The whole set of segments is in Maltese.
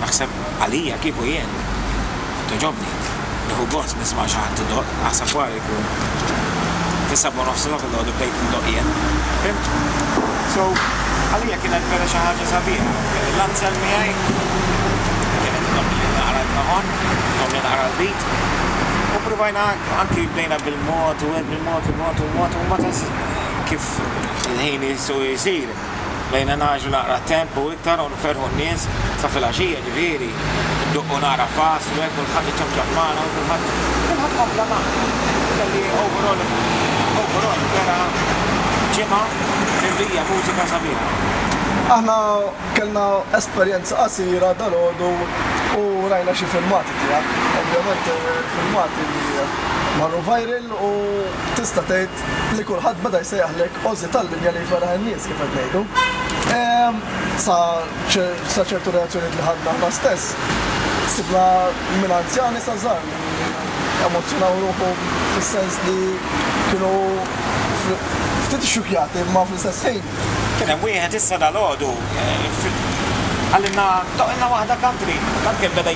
Naħseb għalija kieku jien togħġobni. Nieħu gost nisma' xi ħadd idoqq, naħseb wara jkun is-sebgħa u nofs il-logħba noqogħdu bdejt indoqq jien. Fimt? So, għalija kienet vera xi ħaġa sabiħa. Kelli l-Ansel miegħi, kienet tgħomm li naqra l-kahon, tgħomm li naqra l-beat, u pruvajna anki bdejna bil-mod u hekk bil-mod, bil-mod, bil-mod, u mbagħad ħass kif il-ħin isir. Bdejna ngħaġġlu naqra t-temp u iktar u nferrħu n-nies sa filgħaxija ġifieri. Indoqqu naqra pass u hekk kulħadd iċċafċaf magħna u kulħadd kulħadd kompla magħna. Kelli overall overall vera ġimgħa mimlija mużika sabiħa. Aħna kellna esperjenza qasira dalgħodu u rajna xi filmati tiegħek. Ovvjament filmati li marru viral u tista' tgħid li kulħadd beda jsejjaħlek Ozzy tal-linja li jferraħ in-nies kif qed ngħidu. Ehm, sa ċertu reazzjonijiet li ħadna aħna stess, sibna minn anzjani sa żgħar li emozzjonaw ruħu fis-sens li kienu ftit ixxukjati imma fl-istess ħin. Kien hemm wieħed issa dalgħodu eh, għalilna toqilna waħda country, tant kien beda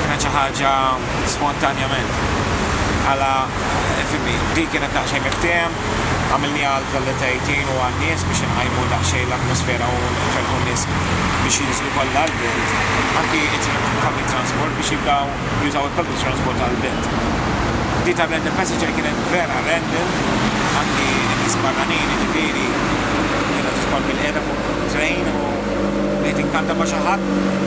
Kienet xi ħaġa spontanjament. Għala, fimni, di kienet daqsxejn miftiehem, għamilniha għal proletaritin u għan-nies biex inqajmu daqsxejn l-atmosfera u nferrħu n-nies biex jinżlu kollha għall-Belt, anki il-public transport biex jibdaw jużaw il-public transport għall-Belt. Di tar-random passenger kienet vera random, anki n-nies barranin, jiġifieri, kienet titħol bil-qiegħda fuq train u. bdejt inkanta ma' xi ħadd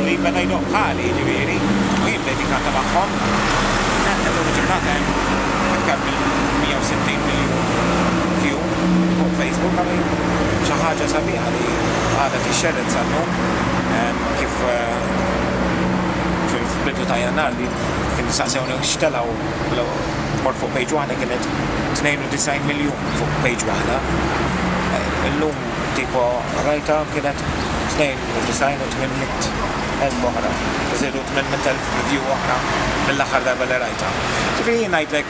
li beda jdoqq bħali, jiġifieri, u jien bdejt inkanta magħhom. Tant li llum il-ġurnata hemm iktar minn 160 miljun view fuq Facebook għamil. Xi ħaġa sabiħa li għadha tixxerred sal-lum kif fil-bidu ta' Jannar li kien staqsewni x'telgħu mort fuq page waħda kienet 92 miljun fuq page waħda. Illum Tipo qrajtha kienet 92 u 800,000 oħra. Żiedu 800,000 review oħra mill-aħħar darba li qrajtha. Ġifieri jien ngħidlek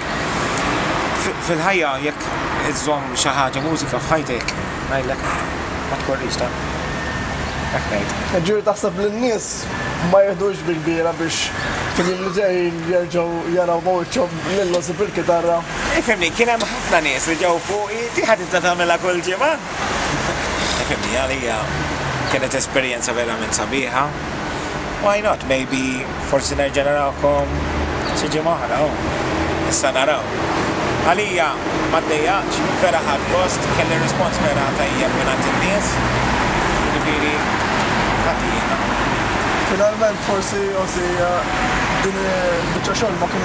fil-ħajja jekk iżżomm xi ħaġa mużika f'ħajtek ngħidlek ma tkorrix tant. Hekk ngħid. Jiġifieri taħseb li n-nies ma jiħdux bi kbira biex fil-jiem li ġejjin jerġgħu jaraw ma' wiċċhom Lil Nosip il-kitarra. Ifhimni, kien hemm ħafna nies li ġew fuqi, di ħa tibda tagħmilha kull ġimgħa? Ifhimni, għalija kienet esperjenza verament sabiħa. Why not, maybe forsi nerġa' narakom xi ġimgħa oħra, oh, issa naraw. Għalija ma ddejjaqx, vera ħadt gost, kelli rispons vera tajjeb mingħand in-nies, jiġifieri ħadd jiena. Finalment forsi Ozzy din il-biċċa xogħol ma kien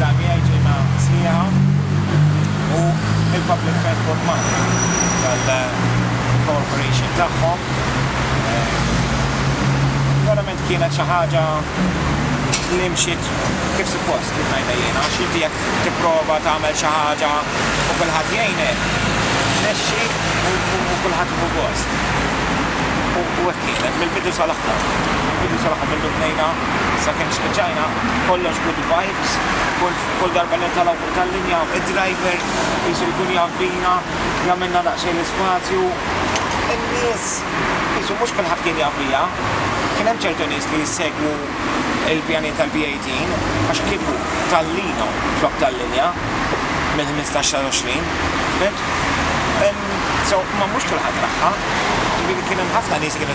Dan jgħid li ma sħiħa u il-public transport Malti tal-cooperation tagħhom verament kienet xi ħaġa li mxiet kif suppost kif ngħidha jiena għax inti jekk tipprova tagħmel xi ħaġa u kulħadd jgħinek tmexxi u kulħadd jieħu gost u hekk kienet mill-bidu sal-aħħar mill-bidu sal-aħħar mindu bnejna sakemm spiċċajna kollox good vibes, kull darba li nitalgħu fuq tal-linja id-driver qisu jkun jaf bina, jagħmilna daqsxejn l-ispazju, in-nies qisu mhux kulħadd kien jaf bija, kien hemm ċertu nies li jissegwu l-pjanijiet tal-B18 għax kieku tallina flok tal-linja mill-ħmistax sal 20, fimt? So, imma mhux kulħadd raħħa, ġifieri kien hemm ħafna nies li kienu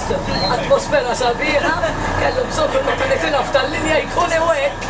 Atmosfera sabiħa, kellhom bżonn kull meta nitilgħu f'tal-linja jkun hu hekk.